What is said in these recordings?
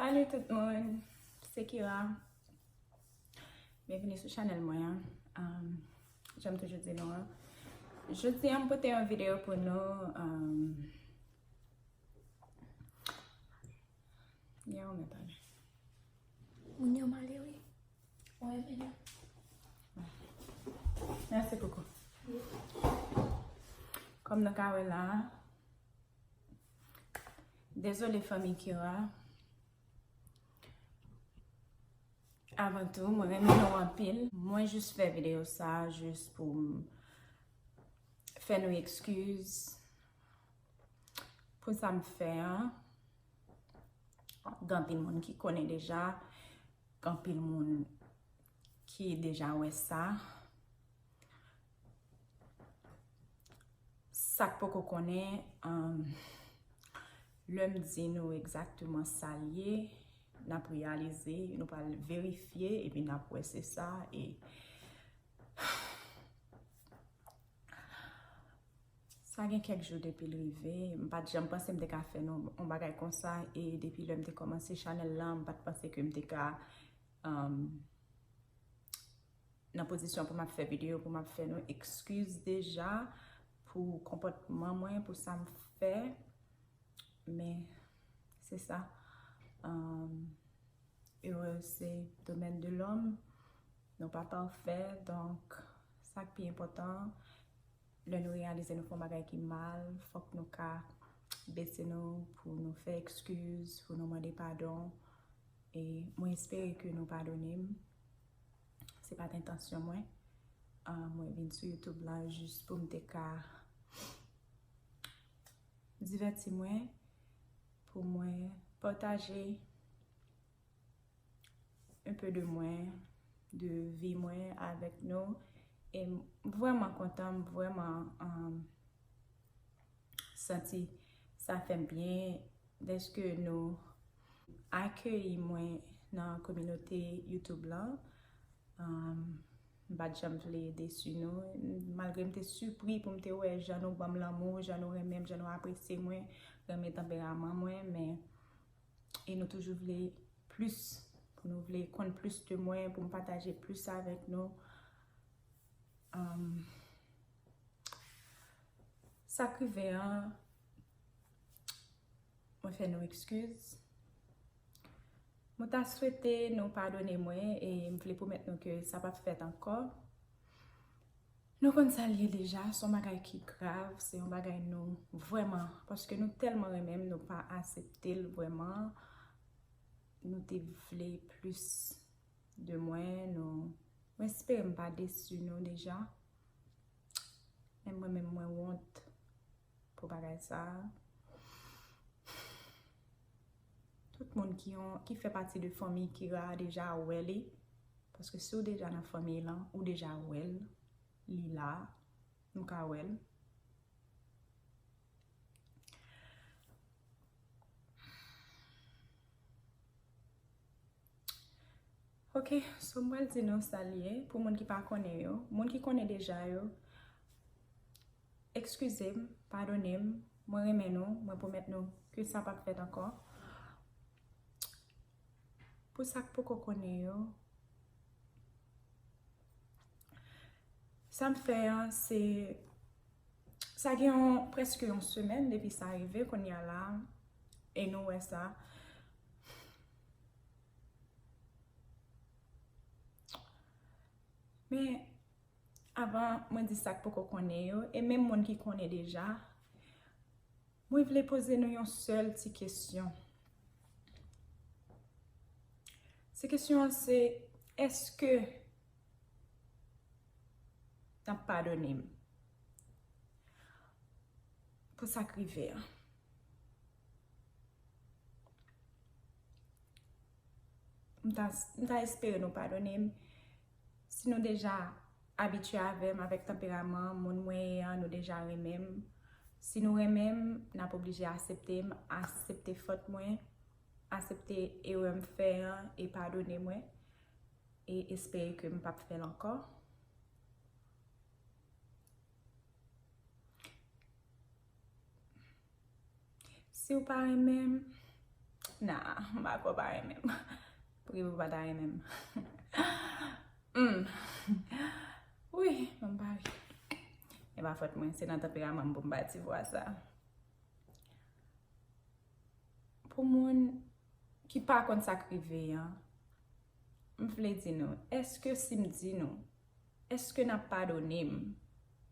Salut tout moun, se Kira Byenvini sou chanèl mwen an Janm toujou di nou an Jodi an m pote yon videyo pou nou Gen yon mwen tande Moun yo male wi Mwen renmen yo Mèsi koukou Kòm nou ka wè la Dezole fanmi Kira. Avan tou, mwen renmen nou anpil. Mwen jis fè videyo sa jis pou m fè nou ekskiz pou sa m fè an. Gen anpil moun ki konnen deja. Gen anpil moun ki deja wè sa. Sak poko konnen lèm di nou egzakteman sal ye nap reyalize nou pral verifye epi nap wè se sa e sa gen kèk jou depi l rive m pat janm panse m te ka fè nou on bagay konsa e depi lèm te kòmanse chanèl la m pat panse ke m te ka nan pozisyon pou m ap fè videyo, pou m ap fè nou ekskiz deja pou konpòtman mwen, pou sa m fè. Men, se sa. Erè se domèn de lòm. Nou pa pafè. Donk, sa k pi enpòtan, lè nou reyalize nou fè yon bagay ki mal, fòk nou ka bese nou pou nou fè ekskiz, pou nou mande padon. E mwen espere ke nou padone m. Se pat entansyon mwen. Mwen vin sou YouTube la jis pou m te ka divèti mwen, pou mwen pataje un peu de mwen, de vi mwen avèk nou. E m vrèman kontan, m vrèman santi sa fè m byen dèske nou Akeyi mwen nan kominote YouTube lan. M pa t janm vle desu nou. Malgre m te sipri pou m te wè jan nou banm lanmou, jan nou renmen m, jan nou apresye mwen, renmen tanperaman mwen, men e nou toujou vle plis, pou nou vle konn plis de mwen, pou m pataje plis avèk nou. Sa k rive an. Mwen fè nou ekskiz. Mwen ta swete nou padone mwen e m vle pwomèt nou ke sa pap fèt ankò. Nou konn sa l ye deja, s on bagay ki grav, se yon bagay nou vrèman, paske nou tèlman renmen m, nou pa asepte l vrèman. Nou te vle plis de mwen, nou, mwen espere m pa desu nou deja. Menm mwen menm mwen wont. Pou bagay sa a. Tout moun ki yon, ki fè pati de fanmiy Kira a deja wè li. Paske si w deja nan fanmiy lan, ou deja wè l. Li la. Nou ka wè l. Ok, so m pral di nou sa l ye pou moun ki pa konnen yo. Moun ki konnen deja yo. Ekskize m, padone m, mwen renmen nou, mwen pwomèt nou ke sa pap fèt ankò. Pou sa k poko konnen yo, sa m fè an se, sa gen yon prèske yon semèn depi sa rive kounye a la, e nou wè sa. Men, Avan mwen di sa k poko konnen yo, e menm moun ki konnen deja, mwen vle poze nou yon sèl ti kesyon. Ti kesyon an se, èske n ap padone m pou sa k rive an? M ta espere nou padone m. Si nou deja abitye avè m avèk tanperaman moun mwen ye an nou deja renmen m. Si nou renmen m n ap oblije asepte m, asepte fot mwen, asepte erè m fè an e padone mwen e espere ke m pap fè l ankò. Siw pa renmen m Nah m pa kwè w pa renmen m Poukisa w pa ta renmen m Humm Wi Bon m pa ri E pa fòt mwen se nan tanperaman m pou m pa ti vwa sa Pou moun ki pa konn sa k rive an M vle di nou Eske si m di nou Eske nap padone m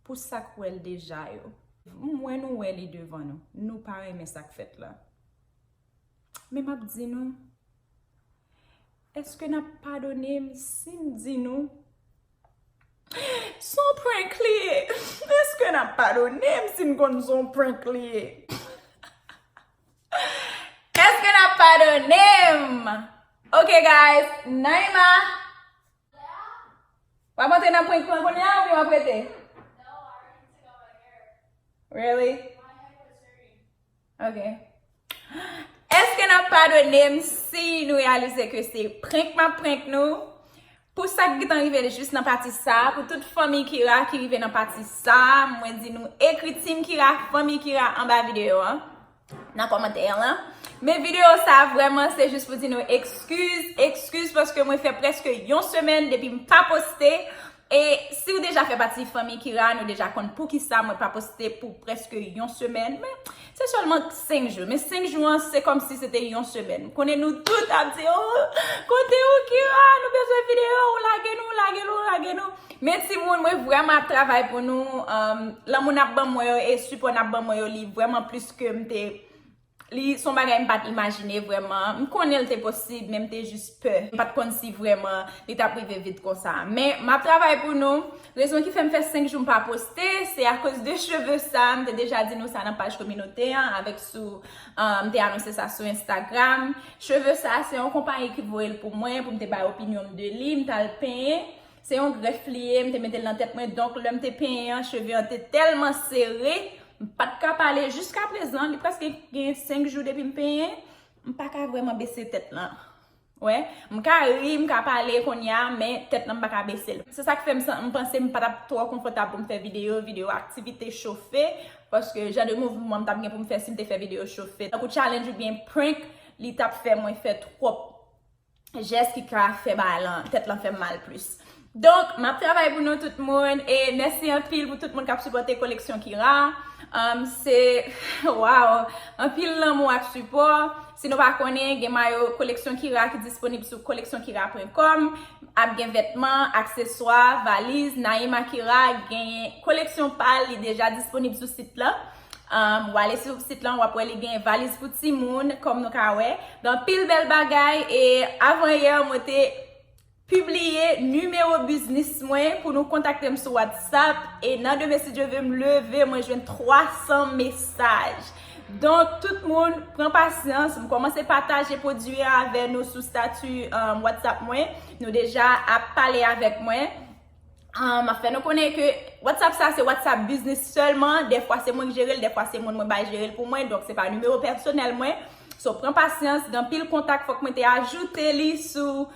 pou sak wèl deja yo? M wè nou wè li devan nou. Nou pa renmen sak fèt la. Men map di nou, Eske nap padone m si m di nou son prank li ye? Eske nap padone m si n konn son prank li ye? Eske nap padone m? Ok guys, Naïma! Wap antre nan prank lan kounye a oubyen wap rete? Really? Ok. Eske nap padone m si nou realize ke se prank map prank nou? Pou sa ki gentan rive jis nan pati sa, pou tout fanmi Kira ki rive nan pati sa, mwen di nou ekri Team Kira, fanmi Kira anba video an. nan kòmantè an lan. Men video sa vrèman se jis pou di nou ekskiz, ekskiz paske mwen fè preske yon semèn depi m pa poste. E si ou deja fè pati fanmi Kira, nou deja konn poukisa mwen pa poste pou preske yon semèn. Men, se sèlman 5 jou. Men 5 jou an, se kòm si se te yon semèn. M konnen nou tout ap di, oh, kote ou Kira, nou bezwen video, ou lage nou, ou lage nou, ou lage nou. Men timoun mwen vreman ap travay pou nou, lanmou nap ban mwen yo e sipò nap ban mwen yo li vreman plis ke m te, li son bagay m pat imajine vreman, m konnen l te posib men m te jis pè, m pat konn si vreman li tap rive vit konsa. Men map travay pou nou, rezon ki fè m fè 5 jou m pa poste se akoz de cheve sa, m te deja di nou sa nan paj kominote an avèk sou m te anonse sa sou Instagram, cheve sa se yon konpayi ki voye l pou mwen pou m te bay opinyon m de li, m tal penyen Se yon grèf li ye, m te mete l nan tèt mwen, donk lè m te penyen an, cheve an te tèlman sere, m pa t ka pale. Jiska prezan, li prèske gen 5 jou depi m penyen, m pa ka vrèman bese tèt lan. Ou wè? M ka ri, m ka pale kounye a, men tèt lan m pa ka bese l. Se sa k fè m san, m panse m pa t ap twò konfòtab pou m fè videyo, videyo aktivite chofe, paske jan de mouvman m t ap gen pou m fè si m te fè videyo chofe, tankou challenge oubyen prank, li t ap fè mwen fè twòp. jès ki ka fè bagay lan, tèt lan fèm mal plis. Donk, map travay pou nou tout moun, e mèsi anpil pou tout moun kap sipòte koleksyon Kira. Se, waw, anpil lanmou ak sipò. Si nou pa konnen, gen mayo koleksyon Kira ki disponib sou koleksyonKira.com, ap gen vètman, akseswa, valiz, Naïma Kira genyen koleksyon pal li deja disponib sou sit lan. Ou ale sou sit lan, wap wè li gen valiz pou timoun, kòm nou ka wè. Gen anpil bèl bagay e avan yè mwen te pibliye nimewo biznis mwen pou nou kontakte m sou WhatsApp e nan demen si Dye ve m leve mwen jwenn 300 mesaj. Donk tout moun pran pasyans, m kòmanse pataje pwodui a avè nou sou stati WhatsApp mwen. Nou deja ap pale avèk mwen. M ap fè nou konnen ke WhatsApp sa se WhatsApp Business sèlman. Dèfwa se mwen ki jere l, dèfwa se moun mwen bay jere l pou mwen. Donk se pa nimewo pèsonèl mwen. So pran pasyans, gen anpil kontak fòk mwen te ajoute li sou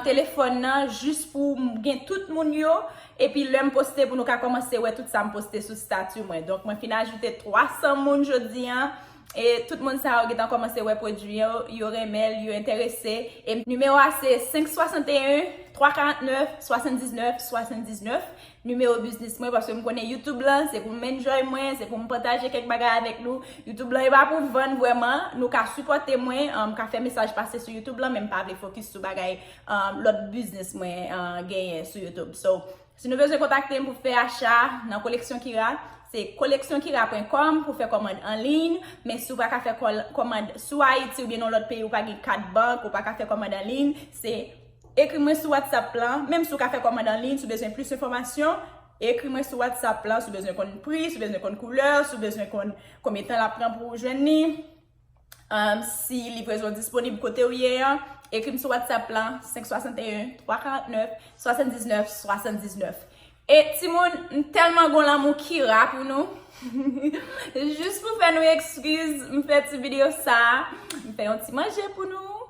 telefòn nan jis pou m gen tout moun yo. Epi lè m poste pou nou ka kòmanse wè tout sa m poste sou stati mwen. Donk mwen fin ajoute 300 moun jodi an. e tout moun sa yo gentan kòmanse wè pwodui an, yo renmen l, yo enterese, e nimewo a se 561 349 79 79, nimewo biznis mwen, paske m konnen youtube lan se pou m enjoy mwen, se pou m pataje kèk bagay avèk nou, youtube lan e pa pou vann vrèman, nou ka sipòte mwen, m ka fè mesaj pase sou youtube lan, men m pa vle fokis sou bagay lòt biznis mwen genyen sou youtube, so. Si nou bezwen kontakte m pou fè acha nan Koleksyon Kira, se koleksyonkiraa.com pou fè kòmand anliy, men si w pa ka fè kòmand sou Ayiti oubyen nan yon lòt peyi ou pa gen kat bank ou pa ka fè kòmand anliy, se ekri mwen sou whatsapp lan, menm si w ka fè kòmand anliy si w bezwen plis enfòmasyon, ekri mwen sou whatsapp lan si w bezwen konn pri, si w bezwen konn koulè, si w bezwen konn konbyen tan l ap pran pou w jwenn li. Si livrezon disponib kote ou ye an, ekri m sou WhatsApp lan, 561 349 79 79. E timoun, m tèlman gon lanmou Kira pou nou. Jis pou fè nou ekskiz, m fè ti video sa a. M fè yon ti manje pou nou.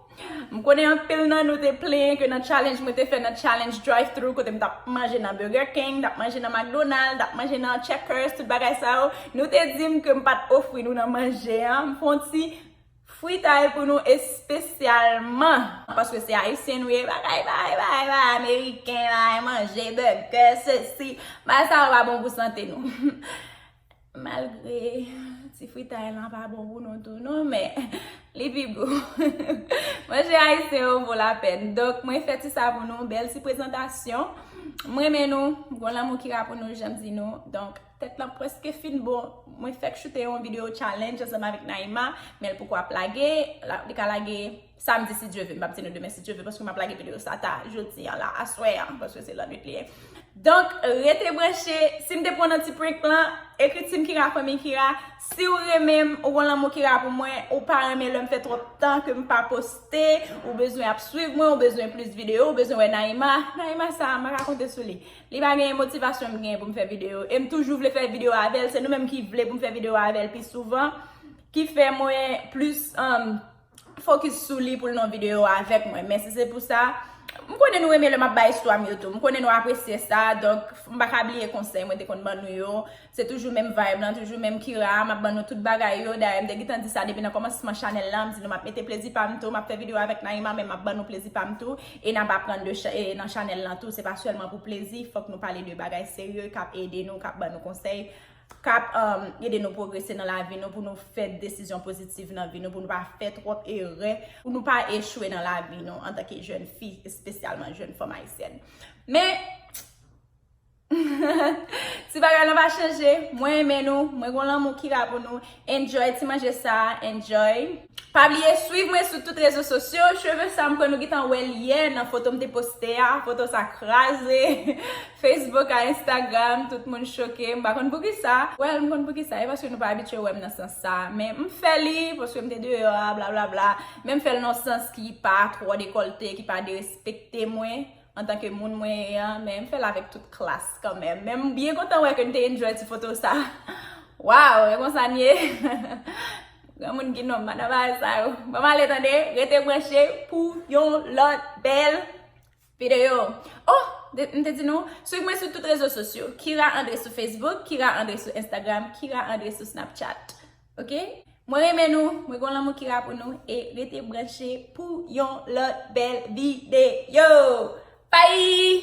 M konnen anpil nan nou te plenyen ke nan challenge mwen te fè nan challenge drive thru kote m tap manje nan Burger King, tap manje nan McDonald, tap manje nan Checkers, tout bagay sa yo, nou te di m ke m pat ofri nou nan manje an, m fon ti fritay pou nou espesyalman, paske se Ayisyen nou ye, bagay bay bay bay Ameriken bay manje, burger, sesi, bagay sa yo pa bon pou sante nou. Malgre ti fritay lan pa bon pou nou tou non men li pi gou. Manje ayisyen yo vo la pèn. Donk mwen fè ti sa pou nou. Bèl ti prezantasyon. M renmen nou. M gon lanmou ki la pou nou jan m di nou. Donk tèt lan preske fin bon. Mwen fèk choute yon video challenge ansanm avèk Naïma. Men l poko ap lage. Li ka lage. Samdi si Dye ve, m pap di nou demen si Dye ve paske m ap lage videyo sa ta jodi an la, aswè an, paske se lannwit li ye. Donk, rete branche, si m te pran nan ti prank lan, ekri Team Kira Fanmiy Kira, si w renmen m, ou gon lanmou Kira pou mwen, ou pa renmen lè m fè twòp tan ke m pa poste, ou bezwen ap swiv mwen, ou bezwen plis videyo, ou bezwen wè Naïma, Naïma sa a m pa ka konte sou li, li pa genyen motivasyon m genyen pou m fè videyo, e m toujou vle fè videyo avè l, se nou menm ki vle pou m fè videyo avè l pi souvan, ki fè mwen plis. Fokis sou li pou l nan videyo a avèk mwen. Mèsi se pou sa. M konnen nou renmen lè m ap bay istwa m yo tou. M konnen nou apresye sa. Donk, m pa ka bliye konsèy mwen te konn ban nou yo. Se toujou menm vayb lan, toujou menm Kira. M ap ban nou tout bagay yo. Dayè, m te gentan di sa depi nan kòmansman chanèl la. M di nou m ap mete plezi pa m tou. M ap fè videyo avèk Naïma men m ap ban nou plezi pa m tou. E n ap aprann de cha, e nan chanèl lan tou. Se pa sèlman pou plezi. Fòk nou pale de bagay serye k ap ede nou, k ap ban nou konsèy. k ap ede nou pwogrese nan lavi nou, pou nou fè desizyon pozitiv nan vi nou, pou nou pa fè twòp erè, pou nou pa echwe nan lavi nou antanke jèn fi, espesyalman jèn fanm ayisyèn. Men, ti bagay lan pa chanje, mwen renmen nou, mwen gen yon lanmou ki la pou nou, Enjoy ti manje sa enjoy. Pa bliye swiv mwen sou tout rezo sosyo cheve sa mkwè nou gntan wèl yè nan foto mte poste a foto sa kraze Facebook a Instagram tout moun choke mpa konn poukisa well mkonn poukisa e paske nou pa abitye wèm nan sans sa men mfè li paske mte deyò a blablabla men mfèl nan sans ki pa twò dekolte ki pa derespekte mwen Antanke moun mwen ye an, men m fè l avèk tout klas kanmenm. Men m byen kontan wè ke n te enjoy ti foto sa. Waw, e konsa n ye? Granmoun ki nonm pandan bagay sa yo. Bon m ale tande, rete branche pou yon lòt bèl videyo. Oh! M te di nou, swiv mwen sou tout rezo sosyo. Kira André sou Facebook, Kira André sou Instagram, Kira André sou Snapchat. Ok mwen renmen nou mwen gon lanmou kira pou nou e rete branche pou yon lòt bèl videyo bye.